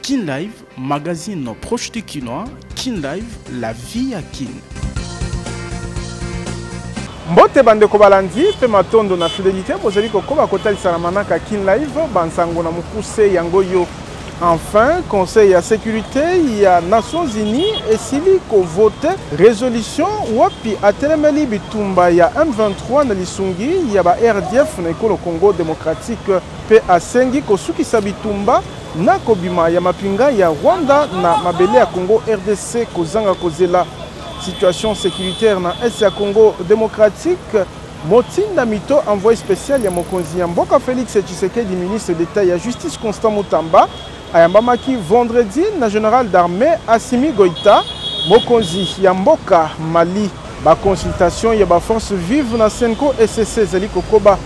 Kin Live, magazine proche du Kinois, Kin Live, la vie à Kin. mbote bandeko balandi mpe matondo na fidelité bozali kokoba kotalisa na manaka kin live bansango na mokuse yango yo Enfin, Conseil ya securite ya Nations Unies esili ko vote resolution wapi atelemeli bitumba ya M23 na lisungi ya ba RDF na ekolo Congo democratique mpe asengi kosukisa bitumba na kobima ya mapinga ya Rwanda na mabele ya Congo RDC kozanga kozela situation securitaire na est ya Congo democratique Motinda mito envoye special ya mokonzi ya mboka Felix Tshisekedi ministre d'Etat ya Justice Constant Mutamba ayambamaki vendredi na general d'armée Assimi Goïta mokonzi ya mboka Mali. Ba consultation ya ba forces vives na Senko ECC ezali kokoba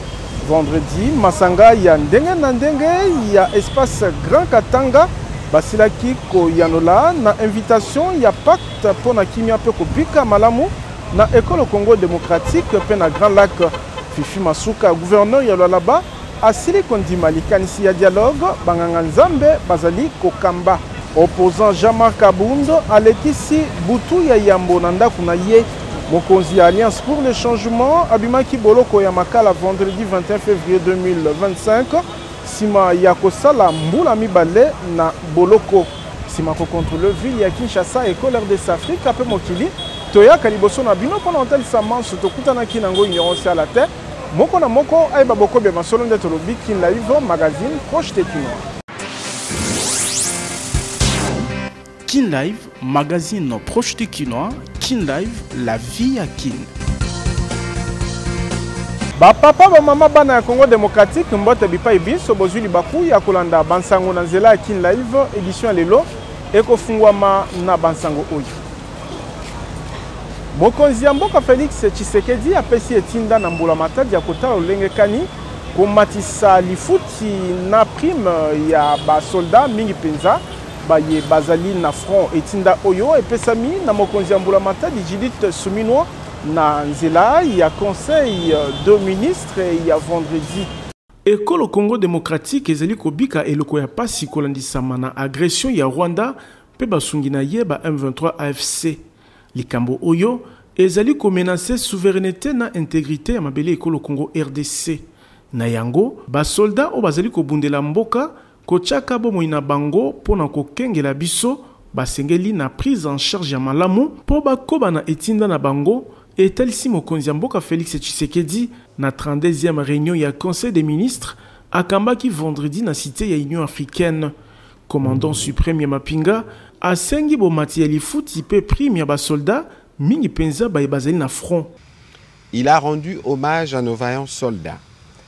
vendredi masanga ya ndenge na ndenge ya espace Grand Katanga basilaki koyanola na invitation ya pacte mpo na kimia mpe kobika malamu Na ekolo Congo democratique mpe na Grand Lac, Fifi Masuka, gouverneur ya Lualaba, asili kondima likanisi ya dialogue banganga Nzambe bazali kokamba. Opposant Jean-Marc Kabund alekisi butu ya yambo na ndako na ye. Mokonzi ya Alliance pour le changement abimaki boloko ya Makala vendredi 21 fevrier 2025 nsima ya kosala mbula mibale na boloko. nsima kokontrole ville ya kinshasa ekolo rdc afrika mpe mokili toyaka liboso na bino mpo na kotalisa manso tokutanaki na yango ignorance ya la terre moko na moko ayeba bokobi ya masolo nde tolobi kin live magazine proche de kinois kin live magazine proche de kinois Kin Live, la vie à Kin. bapapa bamama bana ya congo démocratique mbote bipai binso bozwi libaku ya kolanda bansango na nzela ya kin live édition ya lelo ekofungwama na bansango oyo mokonzi ya mboka félix tshisekedi apesi etinda na mbula matadi ya kotala lolenge kani komatisa lifuti na prime ya basoldat mingi mpenza baye bazali na front etinda oyo epesami na mokonzi ya mbulamatadi judith suminwa na nzela ya conseil de ministre ya vendredi Ekolo Congo democratique ezali kobika eloko ya pasi kolandisama na agression ya Rwanda mpe basungi na ye ba M23 AFC. Likambo oyo ezali komenase souverainete na integrite ya mabele ekolo Congo rdc. Na yango, basolda oyo bazali kobundela mboka Kotyaka bomoi na bango mpo na kokengela biso, basengeli na prise en charge ya malamu mpo bakoba na etinda na bango, etalisi mokonzi ya mboka Felix Tshisekedi na 32e reunion ya Conseil des ministres akambaki vendredi na cite ya Union africaine. Commandant supreme ya mapinga asengi bomati ya lifuti mpe prime ya ba soldats, mingi mpenza baye bazali na front. Il a rendu hommage à nos vaillants soldats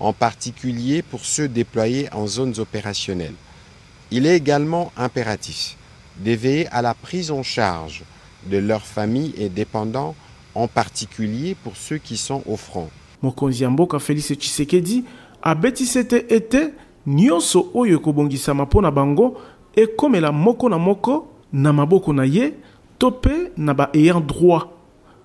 en particulier pour ceux deployes en zones operationnelles. Il est egalement imperatif de veiller à la prise en charge de leurs familles et dependants en particulier pour ceux qui sont au front. Mokonzi ya mboka Felix Tshisekedi abeti sete ete nionso oyo ekobongisama mpo na bango ekomela moko na moko na maboko na ye to mpe na ba ayants droits.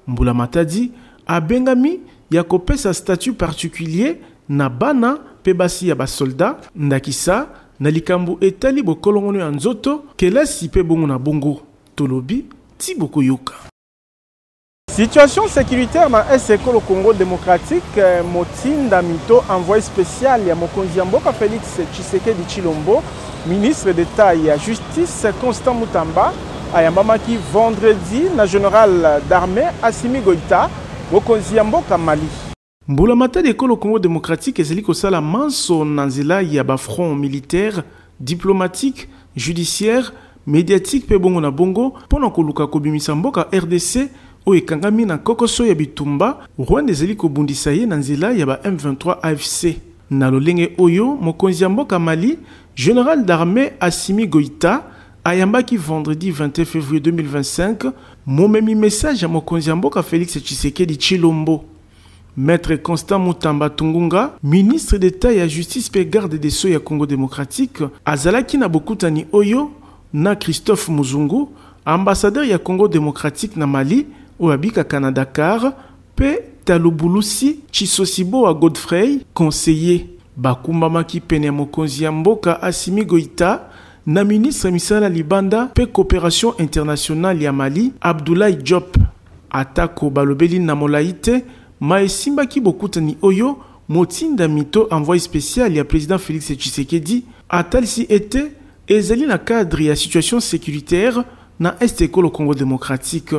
Mbulamatadi abengami ya kopesa statut particulier na bana mpe basi ya ba soldats, ndakisa na likambo etali bokolongono ya nzoto, kelasi mpe bongo na bongo. Tolobi tii bokoyoka. Situation securitaire na Est Ekolo Congo democratique, Motindami to envoye special ya mokonzi ya mboka Felix Tshisekedi Tshilombo, Ministre d'Etat ya Justice Constant Mutamba ayambamaki vendredi na general d'armée Assimi Goïta, mokonzi ya mboka Mali. Mbulamatari ekolo Congo democratique ezali kosala manso na nzela ya ba fronts militaires, diplomatiques, judiciaires, mediatiques mpe bongo na bongo mpo na koluka kobimisa mboka rdc oyo ekangami na kokoso ya bitumba Rwanda ezali kobundisa ye na nzela ya ba M23 AFC. Na lolenge oyo, mokonzi ya mboka Mali, General d'armee Assimi Goïta, ayambaki vendredi 21 fevrier 2025, momemi message ya mokonzi ya mboka Felix Tshisekedi Tshilombo. Maitre Constant Mutamba Tungunga, ministre d'Etat ya Justice mpe Garde des Sceaux ya Congo democratique, azalaki na bokutani oyo na Christophe Muzungu, ambassadeur ya Congo democratique na Mali, oyo abikaka na Dakar, Mpe Talubulusi Tshisosibowa Godfrey, conseiller, bakumbamaki pene ya mokonzi ya mboka Assimi Goïta na ministre ya misala ya libanda mpe cooperation internationale ya Mali, Abdoulaye Diop. Atako balobeli na molayi te ma esimbaki bokutani oyo, motindami to envoye special ya president Felix Tshisekedi atalisi ete Ezali na cadre ya situation securitaire na est ya ekolo Congo democratique.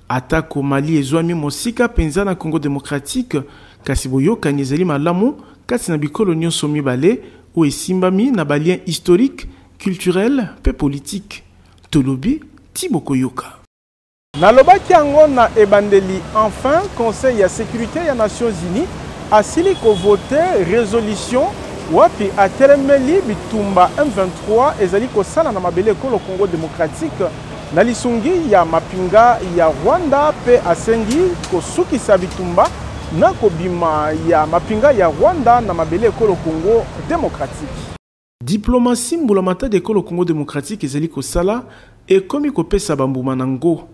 Atako Mali ezwami mosika mpenza na Congo democratique, kasi boyokani ezali malamu kati na bikolo nyonso mibale oyo esimbami na ba liens historiques, culturels mpe politiques. Tolobi tii bokoyoka. Nalobaki yango na ebandeli, enfin conseil ya securite ya Nations Unies asili ko voter resolution wapi atelemeli bitumba M23 ezali kosala na mabele ekolo Congo democratique na lisungi ya mapinga ya Rwanda mpe asengi kosukisa bitumba na kobima ya mapinga ya Rwanda na mabele ekolo Congo democratique. Diplomatie Mbula Matadi Ekolo Congo democratique ezali kosala ekomi kopesa bambuma na ngo.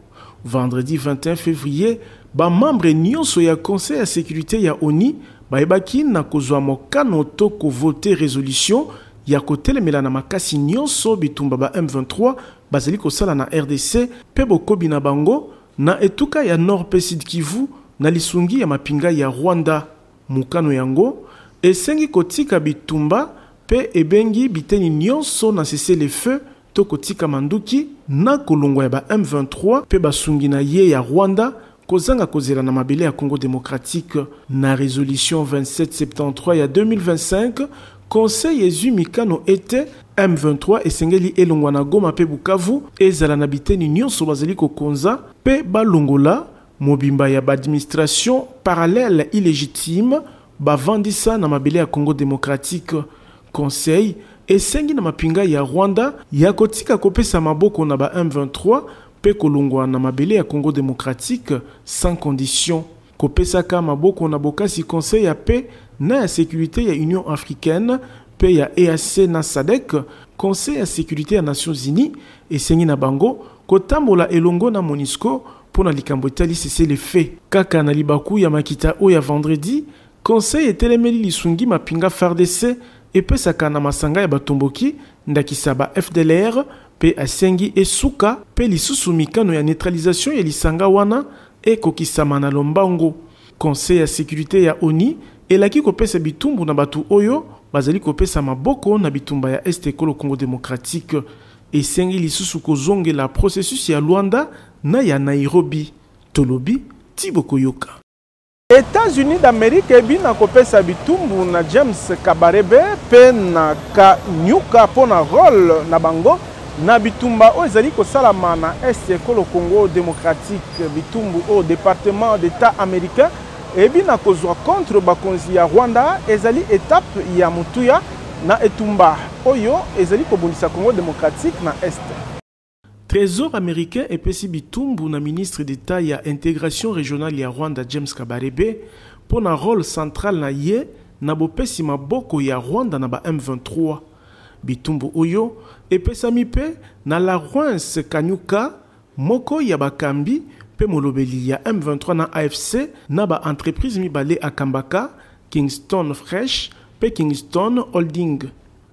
Vendredi 21 fevrier, ba membres nionso ya Conseil ya securite ya onu bayebaki na kozwa mokano to ko voter resolution ya kotelemela na makasi nionso bitumba ba M23 bazali kosala na rdc mpe bokobi na bango na etuka ya Nord mpe Sud-Kivu na lisungi ya mapinga ya Rwanda. Mokano yango esengi kotika bitumba mpe ebengi biteni nionso na cessez-le-feu to kotika manduki na kolongwa ya ba M23 mpe basungi na ye ya Rwanda kozanga kozela na mabele ya Congo democratique. Na resolution 2773 ya 2025, Conseil ezwi mikano ete M23 esengeli elongwa na Goma mpe Bukavu, ezala na biteni nionso bazali kokonza, mpe balongola mobimba ya ba administrations parallèles illegitimes bavandisa na mabele ya Congo democratique. Conseil esengi na mapinga ya Rwanda ya kotika kopesa maboko na ba M23 mpe kolongwa na mabele ya Congo democratique sans condition. Kopesaka maboko na bokasi Conseil ya Paix na ya Securite ya Union africaine mpe ya EAC na sadc, Conseil ya securite ya Nations unies, esengi na bango kotambola elongo na Monusco Mpo na likambo etali cessez-le-feu, kaka na libaku ya makita oyo ya vendredi, Conseil etelemeli lisungi mapinga fardc epesaka na masanga ya batomboki, ndakisa ba fdlr, mpe asengi esuka mpe lisusu mikano ya neutralisation ya lisanga wana ekokisama na lombango. Conseil ya securite ya onu elaki kopesa bitumbu na bato oyo bazali kopesa maboko na bitumba ya Est Ekolo Congo democratique. Esengi lisusu kozongela processus ya Luanda na ya Nairobi. Tolobi tii bokoyoka. Etats-Unis d'Amerique ebina kopesa bitumbu na James Kabarebe mpe na Kanyuka mpo na role na bango na bitumba oyo ezali kosalama na Est ya ekolo Congo democratique, bitumbu oyo Departement d'Etat americain Eyebi na kozwa contre bakonzi ya Rwanda ezali etape ya motuya na etumba oyo ezali kobundisa Congo democratique na Est. Tresor americain epesi bitumbu na ministre d'Etat ya Integration regionale ya Rwanda James Kabarebe mpo na role central na ye na bopesi maboko ya Rwanda na ba M23. Bitumbu oyo epesami mpe na Lawrence Kanyuka, Moko ya bakambi mpe molobeli ya M23 na afc na ba entreprises mibale akambaka, Kingston Fresh mpe Kingston Holding.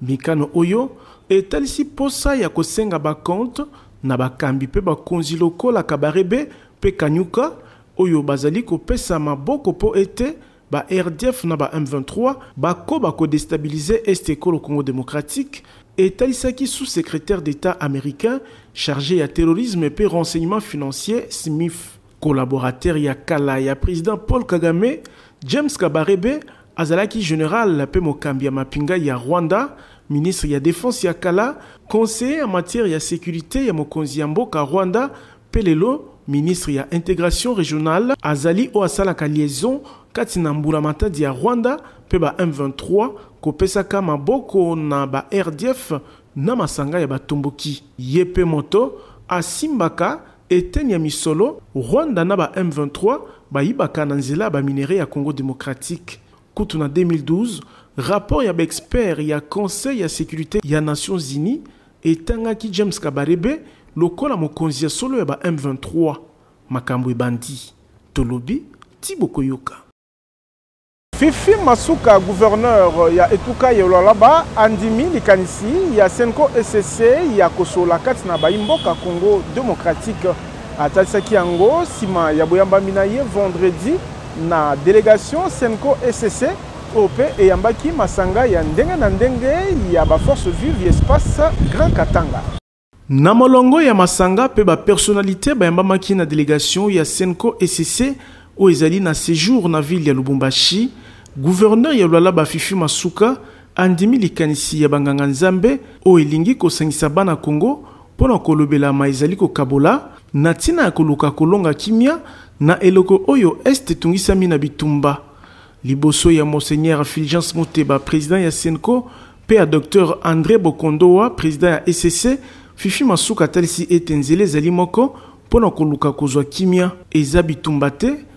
Mikano oyo etalisi mposa ya kosenga ba comptes na bakambi mpe bakonzi lokola Kabarebe mpe Kanyuka oyo bazali kopesa maboko mpo ete ba RDF na ba M23 bakoba ko destabiliser Est ekolo Congo démocratique, etalisaki sous-secretaire d'Etat américain charge ya terrorisme mpe renseignement financier SMIF. Collaborateur ya kala ya president Paul Kagame, James Kabarebe azalaki general mpe mokambi ya mapinga ya Rwanda, ministre ya defense ya kala, conseiller en matière ya securite ya mokonzi ya mboka Rwanda Pe lelo ministre ya integration regionale azali oyo asalaka liaison kati na mbula matadi ya Rwanda pe ba M23, kopesaka maboko na ba RDF na masanga ya batomboki. Ye pe moto asimbaka eteni ya misolo Rwanda na ba M23 bayibaka na nzela ya ba minerais ya Congo democratique. Kutu na 2012, rapport ya ba experts ya Conseil ya securite ya Nations unies etangaki James Kabarebe lokola mokonzi ya solo ya ba M23. Makambo ebandi. Tolobi tii bokoyoka. Fifi Masuka, gouverneur ya etuka ya Lualaba andimi likanisi ya Cenco-ECC ya kosola kati na bayi mboka Congo democratique. Atalisaki yango sima ya boyambami na ye vendredi. Na delegation Cenco ecc oyo mpe eyambaki masanga ya ndenge na ndenge ya ba forces vives ya espace Grand Katanga. Na molongo ya masanga mpe ba personnalites bayambamaki na delegation ya Cenco ecc oyo ezali na sejour na ville ya Lubumbashi, gouverneur ya Lualaba Fifi Masuka andimi likanisi ya ba nganga Nzambe oyo elingi kosangisa bana Congo, Mpo na kolobelama ezali kokabola, na ntina ya koluka kolonga kimia na eleko oyo Est etungisami na bitumba. Liboso ya Monseigneur Fulgence Muteba, president ya Cenco, mpe ya Docteur Andre Bokondowa, president ya ECC, Fifi Masuka atalisi ete nzela ezali moko mpo na koluka kozwa kimia, eza bitumba te,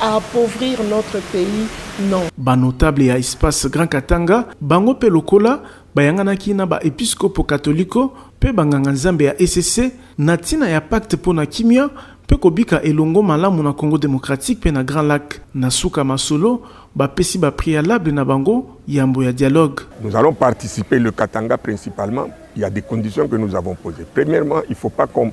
à appauvrir notre pays non. Ba notable ya espace Grand Katanga bango pe lokola bayanganaki na ba episkopo katoliko pe banganga nzambe ya ECC na tina ya pacte mpo na kimia pe kobika elongo malamu na Congo demokratiki pe na Grand Lac. Na suka masolo bapesi ba prealable na bango yambo ya dialogue. Nous allons participer le Katanga principalement, il ya des conditions que nous avons pose. Premièrement, il faut pas qu'on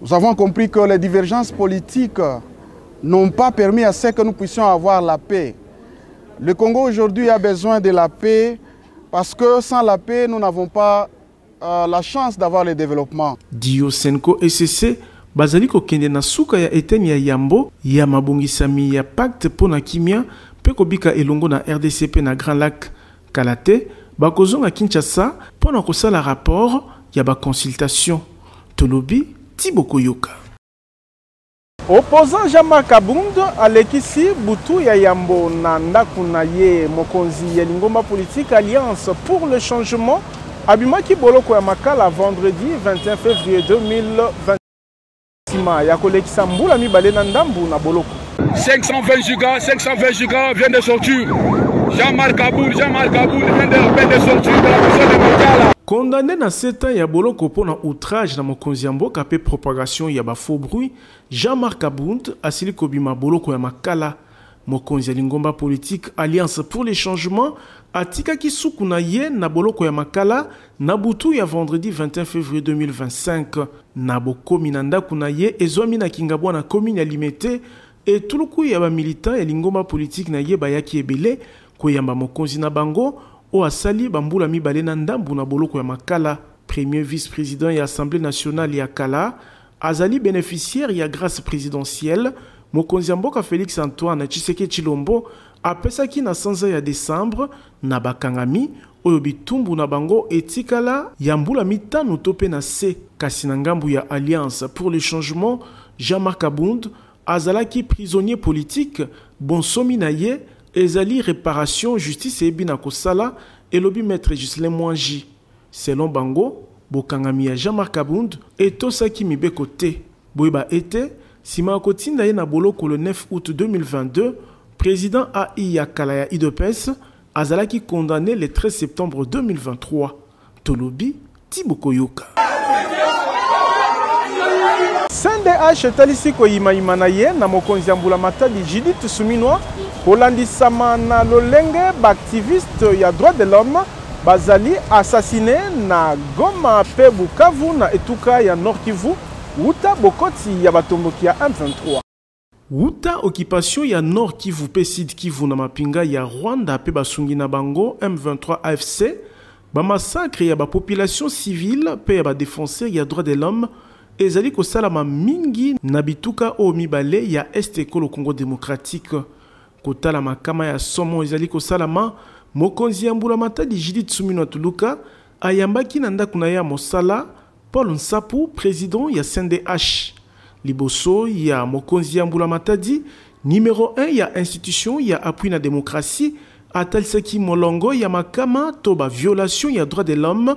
Nous avons compris que les divergences politiques n'ont pas permis à ce que nous puissions avoir la paix. Le Congo aujourd'hui a besoin de la paix parce que sans la paix, nous n'avons pas euh, la chance d'avoir le développement. Dio Senko SCC bazali kokende na suka ya eteni ya yambo ya mabongisami ya pacte mpo na kimia mpe kobika elongo na rdc mpe na Grand Lac Kala te, bakozonga Kinshasa mpo na kosala rapport ya ba consultations. Tolobi ti bokoyoka. Opposant Jean-Marc Kabund alekisi butu ya yambo na ndako na ye. Mokonzi ya lingomba politique Alliance pour le changement abimaki boloko ya Makala vendredi 21 fevrier 2023. nsima ya kolekisa mbula mibale na ndambo na boloko. 520 giga 520 giga vient de sortir Jean-Marc Aboul Jean-Marc Aboul vient de peine de sortir de la prison de Makala Condamné na 7 ans ya boloko mpo na outrage na mokonzi ya mboka mpe propagation ya ba faux bruit, Jean-Marc Abound asili kobima boloko ya Makala Mokonzi ya lingomba politiki Alliance pour le changement atikaki suku na ye na boloko ya Makala na butu ya vendredi 21 fevrier 2025. Na bokomi na ndako na ye ezwami na Kingabwa na commune ya Limete, etuluku ya ba militants ya lingomba politiki na ye bayaki ebele koyamba mokonzi na bango oyo asali ba mbula mibale na ndambo na boloko ya Makala. Premier vice-president ya Assemblee nationale ya kala, Azali beneficiaire ya grace presidentielle mokonzi ya mboka Felix Antoine Tshiseke Tshilombo apesaki na sanza ya decembre na bakangami oyo bitumbu na bango etikala ya mbula mitano to mpe na se, kasi na ngambo ya Alliance pour le changement, Jean-Marc Kabund azalaki prisonnier politique, bonsomi na ye ezali reparation, justice eyebi na kosala, elobi maitre Ghislain Mwangi. Selon bango, bokangami ya Jean-Marc Kabund etosaki mibeko te. Boyeba ete, sima ya kotinda ye na boloko le 9 aout 2022, president AI ya kala ya udps azalaki condamne le 13 septembre 2023. Tolobi ti bokoyoka. CNDH etalisi koyimayima na ye na mokonzi ya Mbula Matadi Judith Suminwa kolandisama na lolenge ba activistes ya droits de l'homme Bazali assassiner na Goma mpe Bukavu na etuka ya Nord-Kivu wuta bokoti ya batomboki ya M23. Wuta occupation ya Nord-Kivu mpe Sud-Kivu na mapinga ya Rwanda mpe basungi na bango M23 AFC, ba massacres ya ba populations civiles mpe ya ba defenseurs ya droits de l'homme ezali kosalama mingi na bituka oyo mibale ya Est ya Ekolo Congo democratique. Kotala makama ya somo ezali kosalama, mokonzi ya mbulamatadi Judith Suminwa Tuluka ayambaki na ndako na ye ya mosala Paul Nsapu, president ya CNDH. Liboso ya mokonzi ya mbulamatadi, numero 1 ya institution ya appui na democratie atalisaki molongo ya makama to ba violations ya droits de l'homme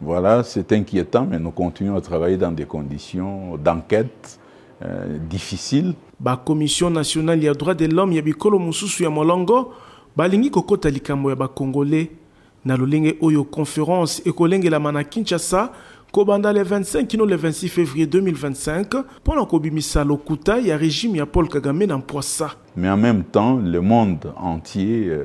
Voilà, c'est inquiétant, mais nous continuons à travailler dans des conditions d'enquête euh, difficiles. Ba Commission nationale ya droit de l'homme ya bikolo mususu ya molongo balingi kokota likambo ya ba Congolais na lolenge oyo conférence ekolengelama na Kinshasa kobanda le 25 kino le 26 février 2025 mpo na kobimisa lokuta ya regime ya Paul Kagame na mpwasa. Mais en même temps, le monde entier euh,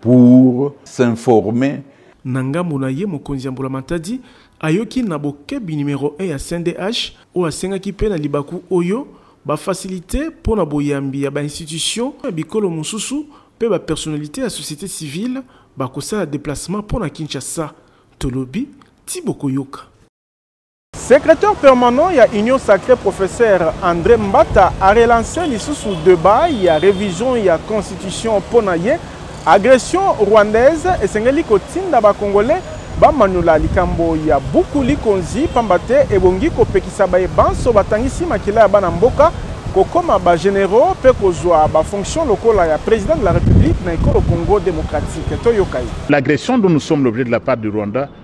pour s'informer Na ngambo na ye, mokonzi ya mbulamatadi ayoki na bokebi numero un ya CNDH oyo asengaki mpe na libaku oyo ba facilites mpo na boyambi ya ba institutions ya bikolo mosusu mpe ba personnalites ya societe civile bakosala deplacement mpo na Kinshasa. Tolobi ti bokoyoka. Secretaire permanent ya Union Sacrée professeur André Mbata a relancé lisusu debat ya revision ya constitution mpo na ye agression rwandaise esengeli kotinda ba congolais bamanyola likambo ya buku likonzi mpamba te ebongi kopekisa baye banso batangisi makila ya bana mboka kokoma ba généraux mpe kozwa ba fonctions lokola ya président de la république na ekolo congo démocratique toyoka ye l'agression dont nous sommes l'objet de la part du rwanda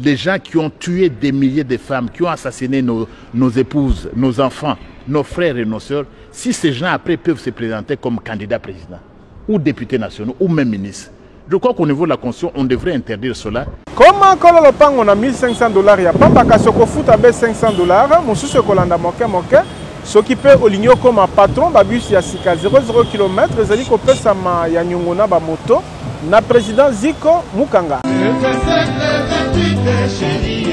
Les gens qui ont tué des milliers de femmes, qui ont assassiné nos, nos épouses, nos enfants, nos frères et nos sœurs, si ces gens après peuvent se présenter comme candidats président, ou députés nationaux, ou même ministres, je crois qu'au niveau de la Constitution, on devrait interdire cela. Comment kolo lopango na 1500 dollars ya pamba kasi okofuta be 500 dollars mosusu ekolanda moke moke soki mpe olingi okoma patron babus ya sika 00 km ezali kopesama ya nyongo na bamoto Na president Zico Mukanga. Le 27 le 28 cherie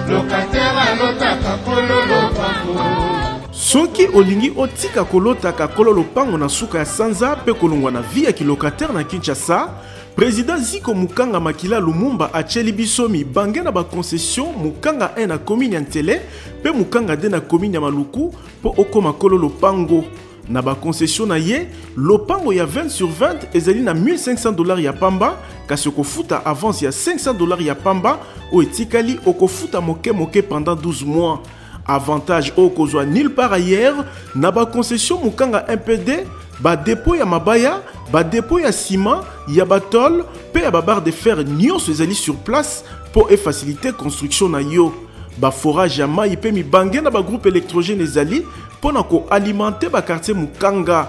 Locataire alotaka kolo lopango soki olingi otika kolotaka kolo lopango na suka ya sanza mpe kolongwa na vi ya kilokataire na kinshasa Président Ziko Mukanga Makila Lumumba a biso mibange na concession Mukanga 1 na commune ya Ntele mpe Mukanga 2 na commune ya Maluku mpo okoma kolo lopango. Na ba concession na ye, lopango ya 20 sur 20 ezali na 1500 dollars ya pamba, kasi okofuta avance ya 500 dollars ya pamba oyo etikali okofuta moke moke pendant 12 mois. Avantage oyo kozwa nulle part ailleurs na ba concession Mukanga MPD, ba depot ya mabaya, ba depot ya ciment, ya ba tôle pe ya ba barre de fer nyonso ezali sur place po e faciliter construction na yo. Ba forage ya mayi pe mibange na ba groupe électrogène ezali Mpo na ko alimenter ba quartiers Mukanga,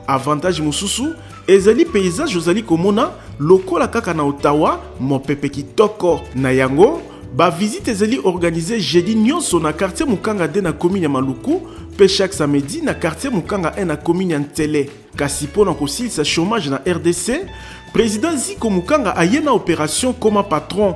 avantage mosusu ezali paysage ozali komona lokola kaka na Ottawa, mopepe kitoko. Na yango, ba visites ezali organiser jeudi nyonso na quartier Mukanga 2 na commune ya Maluku mpe chaque samedi na quartier Mukanga 1 na commune ya Nsele. Kasi mpo na kosilisa chomage na rdc, president Ziko Mukanga aye na operation Koma Patron,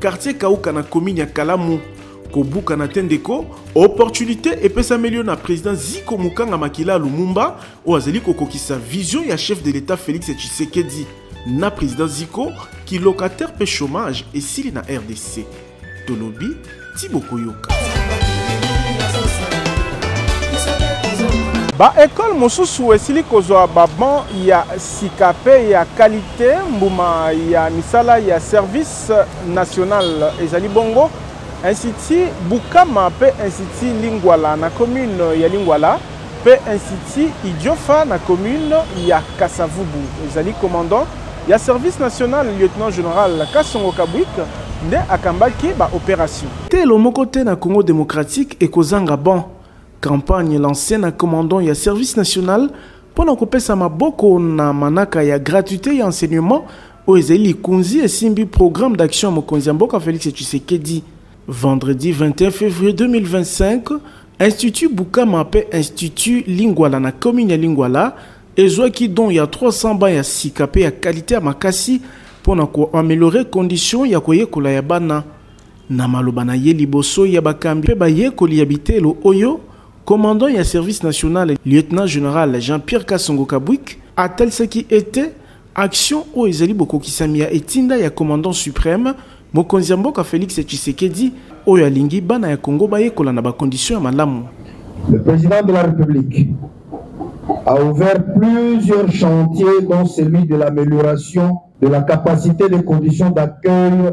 Quartier Kauka na commune ya Kalamu. Kobukana te ndeko, opportunité epesameli yo na président Ziko Mukanga Makila Lumumba oyo azali kokokisa vision ya chef de l'État Félix Tshisekedi na président Ziko ki locataire pe chômage esili na RDC. Tolobi ti bokoyoka. baekole mosusu esili kozwa baban ya sika mpe ya kalite mbuma ya misala ya service national ezali bongo institut bukama mpe institut lingwala na commune ya lingwala mpe institut idiofa na commune ya kasavubu ezali commandant ya service national lieutenant général kasongo kabwik nde akambaki baopération telo moko te na congo démocratique ekozanga ban campagne lancée na commandant ya service national mpo na kopesa maboko na manaka ya gratuité ya enseignement oyo ezali likonzi esimbi programme d'action ya mokonzi ya mboka Felix Tshisekedi. Vendredi 21 février 2025, Institut Bukama mpe Institut Lingwala na commune ya Lingwala ezwaki don ya 300 ba ya sika mpe ya kalite ya makasi mpo na koameliore condition ya koyekola ya bana. Na maloba na ye liboso ya bakambi mpe bayekoli ya bitelo oyo, commandant ya service national lieutenant général Jean-Pierre Kasongo Kabwik atalisaki ete Action oyo ezali bokokisami ya etinda ya Commandant supreme, mokonzi ya mboka Felix Tshisekedi, oyo alingi bana ya Congo bayekola na ba conditions ya malamu. Le Président de la République a ouvert plusieurs chantiers dont celui de l'amélioration de la capacité des conditions d'accueil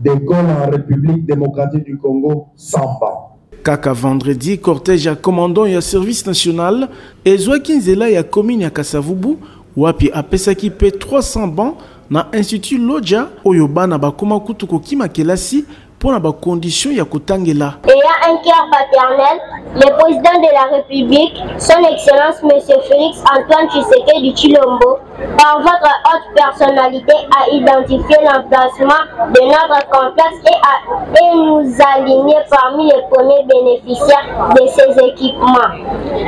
Decolle en Republique Democratique du Congo, Samba. Kaka vendredi, cortège ya commandant ya service national ezwaki nzela ya commune ya Kasavubu wapi apesaki pe 300 bancs na institut Lodja oyo bana bakoma kutu kokima kelasi mpo na bakondition ya kotangela eya un cœur paternel le président de la république son excellence monsieur félix antoine tshisekedi tshilombo par votre haute personnalité à identifier l'emplacement de notre complexe et, à, et nous aligner parmi les premiers bénéficiaires de ces équipements.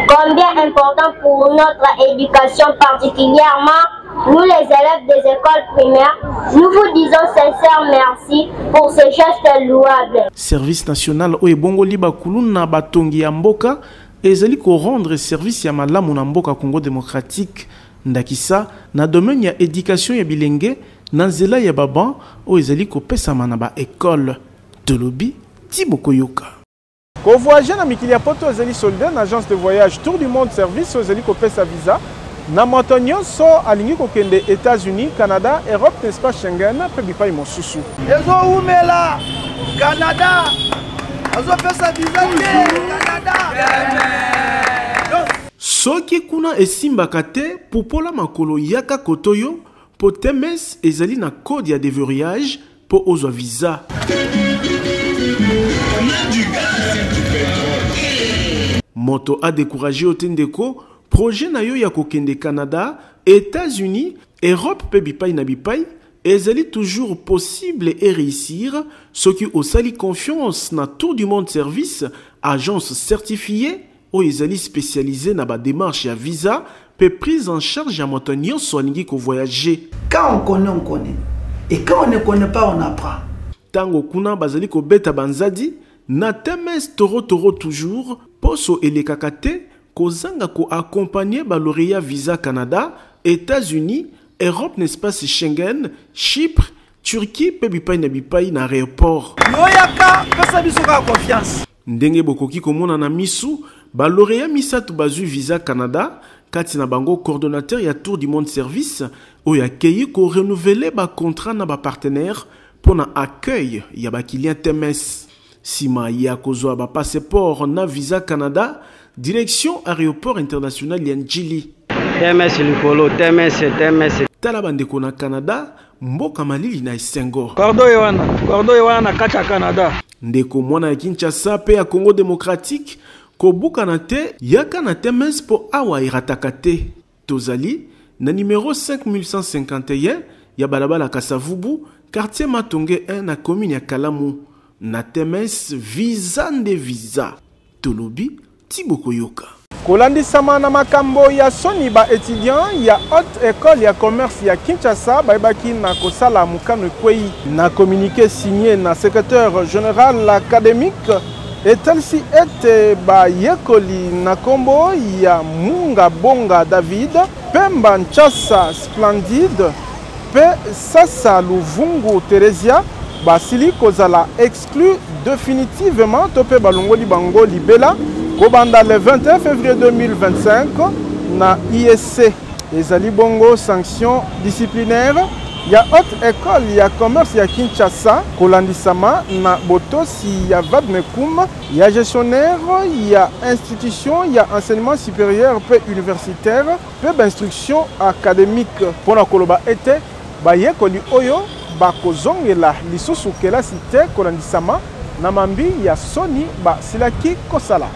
Combien important pour notre éducation particulièrement nous les élèves des écoles primaires, nous vous disons sincère merci pour ce geste louable. Service national oyo ebongoli bakuluna batongi ya mboka ezali rendre service ya malamu na mboka Congo démocratique Ndakisa, na domaine ya education ya bilenge, na nzela ya ba bancs oyo ezali kopesama na ba ecoles. Tolobi ti bokoyoka. Ko voyager na mikili ya poto ezali solide na agence de voyage Tour du monde service oyo ezali kopesa visa na moto nionso alingi kokende Etats-Unis, Canada, Europe na espace Schengen mpe bipai mosusu. Ezo wumela Canada azo pesa visa te Canada. Soki kuna esimbaka te pupola makolo yaka koto yo po tms ezali na code ya deverrouillage po ozwa visa. Moto a decourager yo te ndeko, projet na yo ya kokende Canada, Etats Unis, Europe pe bipai na bipai ezali toujours possible e reussir soki osali confiance na Tour du Monde Service, agence certifiee oyo ezali specialise na ba demarches ya visa mpe prise en charge ya moto nyonso alingi ko voyager. Quand on connait, on connait. Et quand on ne connait pas, on apprend. Tango kuna bazali kobeta banzadi na temes toro toro toujours poso elekaka te kozanga ko accompagner ba laureat visa Canada, Etats-Unis, Europe n'espace Schengen, Chypre, Turquie mpe bipai na bipai na aeroport. Yo yaka pesa biso kaka confiance. Ndenge bokoki komona na miso, ba laureats misato bazwi visa Canada, kati na bango coordonnateur ya Tour du Monde Service oyo akeyi ko renouveler ba contrats na ba partenaires mpo na accueil ya ba kilian TMS. Sima ya kozwa ba passeports na visa Canada, direction aeroport international ya N'Djili. TMS likolo, TMS, TMS. Tala bandeko na Canada, mboka malili na esengo kordo ye wana kordo ye wana na kati ya canada ndeko mwana ya kinshasa mpe ya congo demokratike kobukana te yaka na temes mpo awa erataka te tozali na nimero 5151 ya balabala kasavubu quartier matonge 1 na commune ya kalamu na temes visa nde visa Tolobi ti bokoyoka. Kolandisama na makambo ya soni, ba etudiants ya Haute Ecole ya Commerce ya Kinshasa bayebaki na kosala mokano ekweyi. Na communique signe na Secretaire general academique, etalisi ete bayekoli na nkombo ya Munga Bonga David, Pemba Nchasa Splendide mpe Sasa Luvungu Theresia basili kozala exclu definitivement to mpe balongoli bango libela kobanda le 21 février 2025 na ISC ezali bongo sanction disciplinaire ya haute école ya commerce ya Kinshasa kolandisama na botosi ya vadmecum ya gestionnaire ya institution ya enseignement supérieur mpe universitaire mpe bainstruction académique mpo na koloba ete Bayekoli oyo bakozongela lisusu kelasi te kolandisama na mambi ya soni basilaki kosala.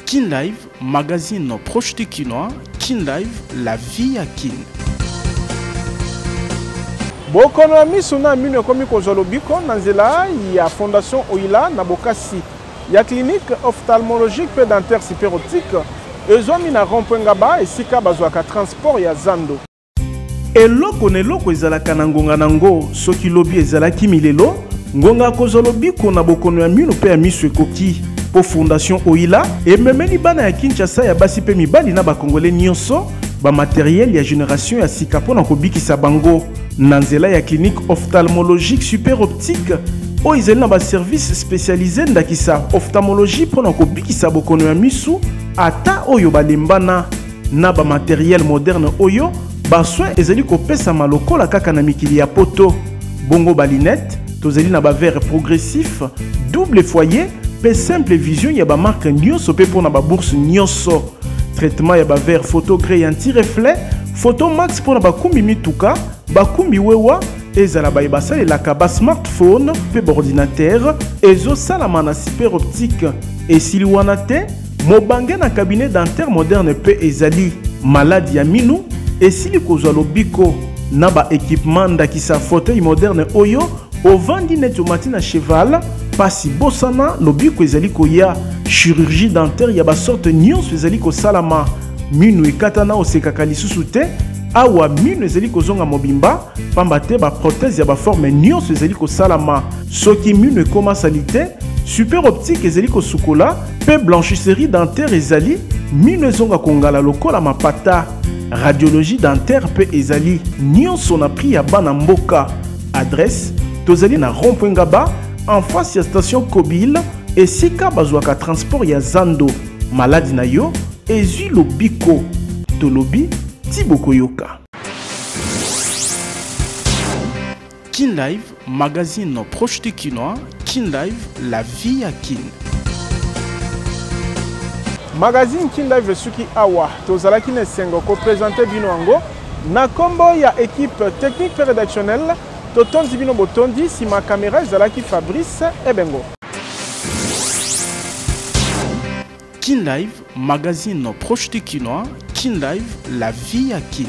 Kin Live, magazine proche du Kinois, Kin Live, la vie à Kin. Bokono ya miso na mino ekomi kozwa lobiko na nzela ya Fondation Oila na bokasi ya clinique ophtalmologique mpe dentaire super optique ezwami na rond-point ngaba esika bazwaka transport ya zando eloko na eloko ezalaka na ngonga na ngo soki lobi ezalaki milelo ngonga akozwa lobiko na bokono ya mino mpe ya miso ekoki mpo fondation oila ememeli bana ya kinshasa ya basi mpe mibali na bakongole nyonso bamateriele ya generation ya sika mpo na kobikisa bango na nzela ya clinique ophtalmologique super optique oyo ezali na baservice spécialise ndakisa ophtalmologie mpo na kobikisa bokono ya misu ata oyo balembana na bamateriel moderne oyo basoin ezali kopesama lokola kaka na mikili ya poto bongo balinete tozali na bavere progressif double foyer mpe simple vision ya bamarke nyonso mpe mpo na babourse nyonso traitement ya bavere photo grey anti reflet Photo Max mpo na bakumbi mituka, bakumbi wewa, ezala baye basalelaka ba smartphone mpe baordinatere ezosalama na super optique esili wana te mobange na cabinet dentaire moderne mpe ezali maladi ya minu esili kozwa lobiko na baekipema ndakisa fauteuil moderne oyo ovandi neti omati na cheval mpasi bosana lobiko ezali koya chirurgie dentaire ya basorte nyonso ezali kosalama Minu ekatana osekaka lisusu te awa minu ezali kozonga mobimba pamba te baprothèse ya baforme nyonso ezali kosalama soki minu ekoma salite super optique ezali kosukola mpe blanchisserie dentaire ezali minu ezonga kongala lokola mapata radiologie dentaire mpe ezali nyonso na prix ya bana mboka adresse tozali na rond-point ngaba en face ya station kobile esika bazwaka transport ya zando Maladi na yo ezwi lobiko. Tolobi ti bokoyoka. Kin Live, magazine proche du Kinois. Kin Live, la vie à Kin. Magazine Kin Live esuki awa. Tozalaki na esengo ko présenter bino yango na kombo ya équipe technique et rédactionnelle. Totondi bino botondi, sima kamera ezalaki Fabrice Ebengo. Kin Live, magazine proche du Kinois, Kin Live, la vie à Kin.